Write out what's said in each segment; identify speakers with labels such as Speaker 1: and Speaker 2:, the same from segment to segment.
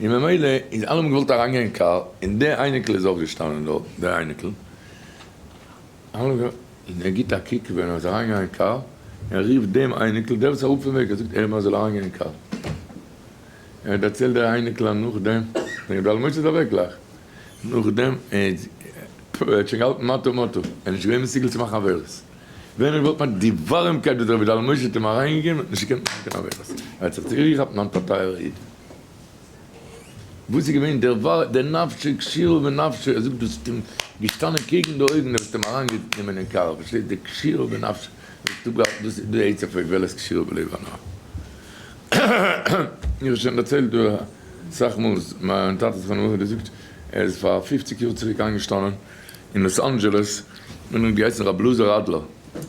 Speaker 1: און ממילא איז אלעמען געוואלט אריינגיין אין קאר, און די אייניקל איז אויך געשטאנען דארט, די אייניקל, און ער גיט א קוק ווען ער איז אריינגעגאנגען אין קאר, און ער רופט דעם אייניקל, דער וואס איז אראפ פון וועג, ער זאגט איהם ער זאל אריינגיין אין קאר, ער האט דערציילט דער אייניקל אז נאכדעם, דער גדול משה איז אוועק גלייך, נאכדעם, ער האט שוין געהאלטן מטה מטה, ער איז נישט געווען מסוגל צו מאכן עבירות. ווען ער וואלט פאקט די ווארעמקייט וואס דער רבי דל משה האט אים אריינגעגעבן וואלט נישט געקענט מאכן קיין עבירות, ער האט זיך צוריקגעכאפט מיין טייערע איד וואס איז געווען דער ווארע דער נפשו כשירו בנפשו ער זאגט דו האסט אים געשטאנען קעגן די אויגן דו האסט אים אריינגענומען אין קאר פארשטייסט דער כשירו בנפשו ער האט אפגעהאלטן דאס איז די עצה פאר איך וועל עס כשירו בלב אנא איך האב שוין דערציילט דא אסאך מאל אז מיין טאטע זכרונו לברכה האט געזאגט ער איז פאר פופציג יאר צוריק איינגעשטאנען. אין לאס אנדזשעלעס און האט געהייסן רבי אלעזר אדלער,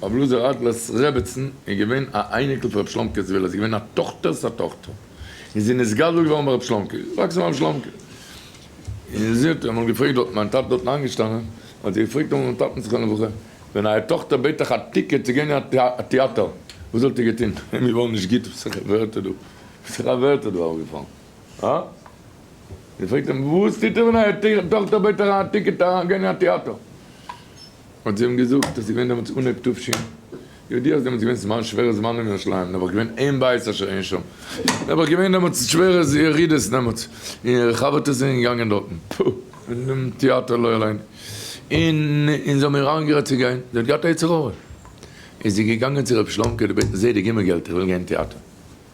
Speaker 1: רבי אלעזר אדלער'ס רעבעצן איז געווען א אייניקל פון רבי שלומקע זוויל, איז געווען א טאכטער'ס א טאכטער, און זי איז נתגדל געווארן ביי רבי שלומקע, איז געוואקסן ביי רבי שלומקע, און זי האט אמאל געפרעגט דארטן, מיין טאטע איז דארטן איינגעשטאנען, האט זי געפרעגט אמאל מיט'ן טאטן זכרונו לברכה, ווען אייער טאכטער בעט אייך א טיקעט צו גיין אין א טעאטער, וואס וואלט איר געטון? מיר וואלן נישט גוט, וואס זעך א ווערטער דא, וואס זעך א ווערטער דא אראפגעפאלן. אה? זי פרעגט אים, וואס טוט ער ווען אייער טאכטער בעט אייך א טיקעט אריינגיין אין א טעאטער? האט זי אים געזאגט אז ס'איז געווען דעמאלטס אנהויב תשי י, ידוע אז דעמאלטס איז געווען זמן שווערע זמנים אין ירושלים, און נעבעך געווען אין בית אשר אין שם, נעבעך געווען דעמאלטס שווערע ירידות דעמאלטס, און אירע חבר'טעס זענען געגאנגען דארטן, פו, אין דעם טעאטער לא עלינו, און זיי האבן איר איינגערעדט צו גיין, זי האט געהאט א יצר הרע, איז זי געגאנגען צו רבי שלומ'קע, דו בעט נישט זייער די גומל געלט, איך וויל גיין אין טעאטער.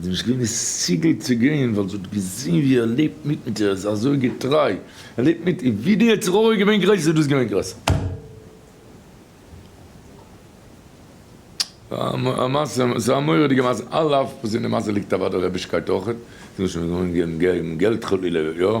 Speaker 1: זי האט נישט געווען מסוגל צו גיין ווייל זי האט געזען ווי ער לעבט מיט מיט איר, ער איז אזוי געטריי, ער לעבט מיט איר, ווי די יצר הרע איז געווען גרויסער איז דאס געווען גרויסער. א מעשה, ס'איז א מורא'דיגע מעשה, על אף וואס אין די מעשה ליגט אוודאי רעבישקייט אויכעט, זי מוז שוין געוואוינט געבן געלט חלילה, יא,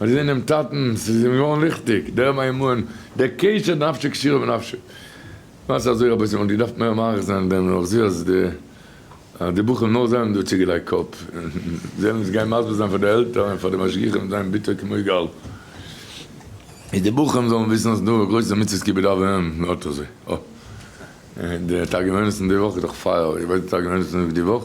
Speaker 1: ער איז אינעם טאטן, ס'איז אים געווארן ליכטיג, דער מימון, דער קשר נפשי קשירה בנפשי. למעשה אזוי רבותי מ'וואלט געדארפט מער מאריך זיין דעם נאך זעה אז די אז די בחורים נאר זיי האבן דא צוגעלייגט קאפ, זיי וועלן עס גיין מסביר זיין פאר די עלטערן און פאר די משגיחים זיין ביטער כמו יגאל. איז די בחורים זאלן וויסן אז ס'דא גרויסע מצוות כיבוד אב ואם, נו אט אזוי. אוי. די תרגומנית פון די וואך איז דאך פייער, איר ווייסט די תרגומנית פון די וואך?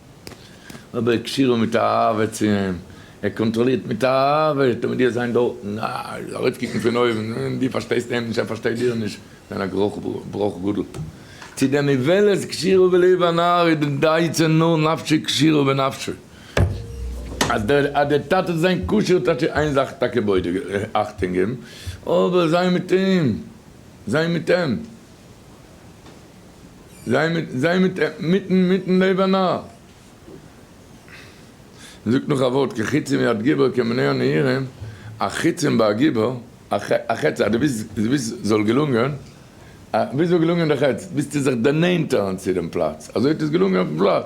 Speaker 1: נאר דער קשור מיט אהבה צו אים, ער קאנטראלירט מיט אהבה, טאמער דו האסט זיין דארטן, אה, ארויפקוקן פון אויבן, און דו פארשטייסט אים נישט, ער פארשטייט דיר נישט, זיין א גרויך בראך גדול. צו דעם איוולת קשירו בלב הנער איז די דייטש נאר נפשי קשירו בנפשו, אז דער אז דער טאטע זאל זיין קשור, טאטש איז איין זאך טאקע בודק, אכטונג געבן, אבער זיין מיט אים, זיין מיט אים. זיי מיט זיי מיט מיטן מיטן לב א נאר. מען זאגט נאך א ווארט כחיצים מיד גיבור כמנוע נהירים, א חיצים ביי א גיבור, א חץ אז דו ווילסט דו ווילסט זאל געלונגען, ווילסט זאל געלונגען די חץ, ביסטו זיך דערנענטערן צו דעם פלאץ, אזוי האט עס געלונגען אויפן פלאץ.